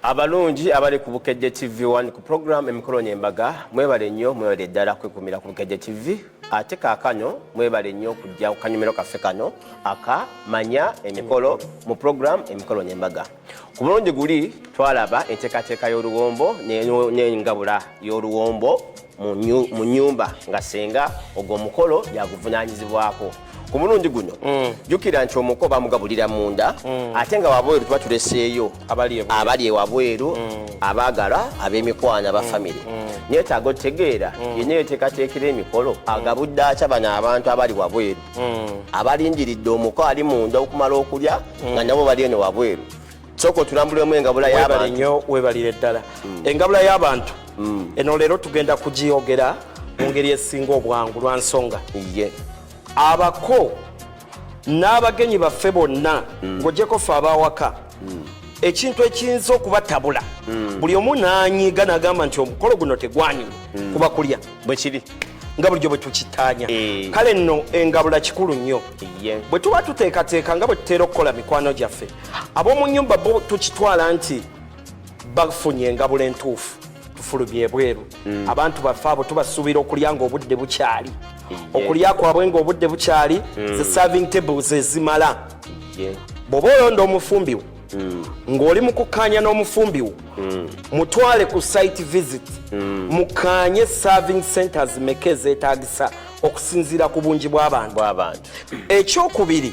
abalungi abali ku bukejje tv 1 ku program emikolo nyembaga mwebale nnyo mwebale ddala kwekumira ku bukejje tv ate kakano mwebale nnyo okujja ku kanyumiro kaffe kano aka manya emikolo mu program emikolo nyembaga ku mulundi guli twalaba enteekateeka y'oluwombo n'engabula y'oluwombo mu nyumba nga senga ogwo omukolo yaguvunaanyizibwako ku mulundi guno mm. jukira nti omuko bamugabulira munda mm. ate nga wabweru tuba tuleseeyo abali ewabweru mm. abaagala ab'emikwano aba famiry neetaaga otegeera yena eteekateekera emikolo agabudde akya bano abantu abali wabweru hmm. abalindiridde omuko ali munda okumala okulya hmm. nga nabo bali eno wabweru sooka otulambulemu engabula yabanyo webalire ddala hmm. engabula y'abantu eno leero tugenda kugiyogera mu ngeri esinga obwangu lwa nsonga abako n'abagenyi baffe bonna ng'ogyeko fe abawaka ekintu ekiyinza okubatabula buli omu nanyiga nagamba nti omukolo guno tegwanyuma kuba kulya bwe kiri nga bulijjo bwe tukitaanya eh. kale nno engabula kikulu nnyo bwe tuba tuteekateeka nga bwe tutera okukola mikwano gyaffe ab'omu nnyumba bo tukitwala nti bafunye engabula entuufu tufulumye ebweru hmm. abantu baffe abo tubasuubira okulya ng'obudde bukyali okulya kwabwe ng'obudde bukyali hmm. ze serving tables ezimala bw'oba olonda omufumbiwo mm. ng'oli mu kukkaanya n'omufumbi wo mm. mutwale ku site visit mm. mukkaanye serving centers meka ezeetaagisa okusinziira ku bungi bw'abantu ekyokubiri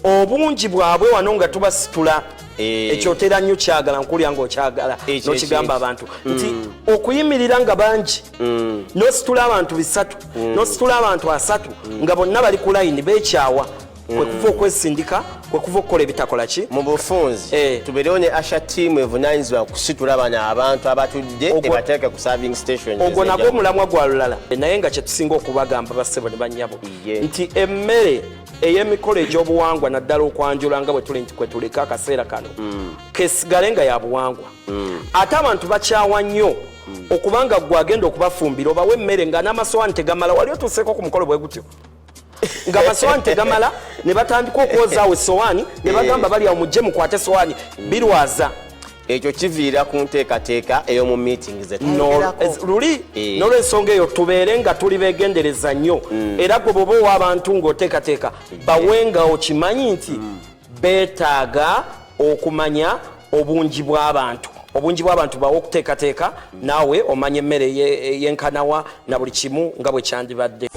obungi bwabwe wano nga tubasitula eh. ekyotera nnyo kyagala nkulya ngaokyagala nokigamba abantu mm. nti okuyimirira nga bangi mm. nositula abantu bisatu mm. nositula abantu asatu nga bonna bali ku layini bekyawa kwe kuva mm. okwesindika kwe kuva okukola ebitakola ki mu bufunzi eh. tubeerewo ne asha tiimu evunaanyizibwa kusitula bana abantu abatudde ebateeke ku serving station ogwo nagwo omulamwa gwa lulala naye nga kyetusinga okubagamba bassebo ne bannyabo nti emmere ey'emikolo egy'obuwangwa naddala okwanjula nga bwetuli nti kwetuleka akaseera kano mm. kesigale nga ya buwangwa mm. ate abantu bakyawa nnyo okubanga gwe agenda okubafumbira obawo emmere nga n'amasowaani tegamala wali otuuseeko ku mukolo bwe gutyo nga amasowaani tegamala ne batandika okwozaawo esowaani ne bagamba eh. bali awo mujje mukwate esowaani birwaza ekyo kiviira ku nteekateeka ey'omu meeting zetululi eh. n'olwensonga eyo tubeere nga tuli beegendereza nnyo mm. era gwe bwoba owa abantu ng'oteekateeka eh. bawe nga okimanyi nti mm. beetaaga okumanya obungi bw'abantu obungi bw'abantu bawe okuteekateeka mm. naawe omanya emmere yenkanawa na buli kimu nga bwe kyandibadde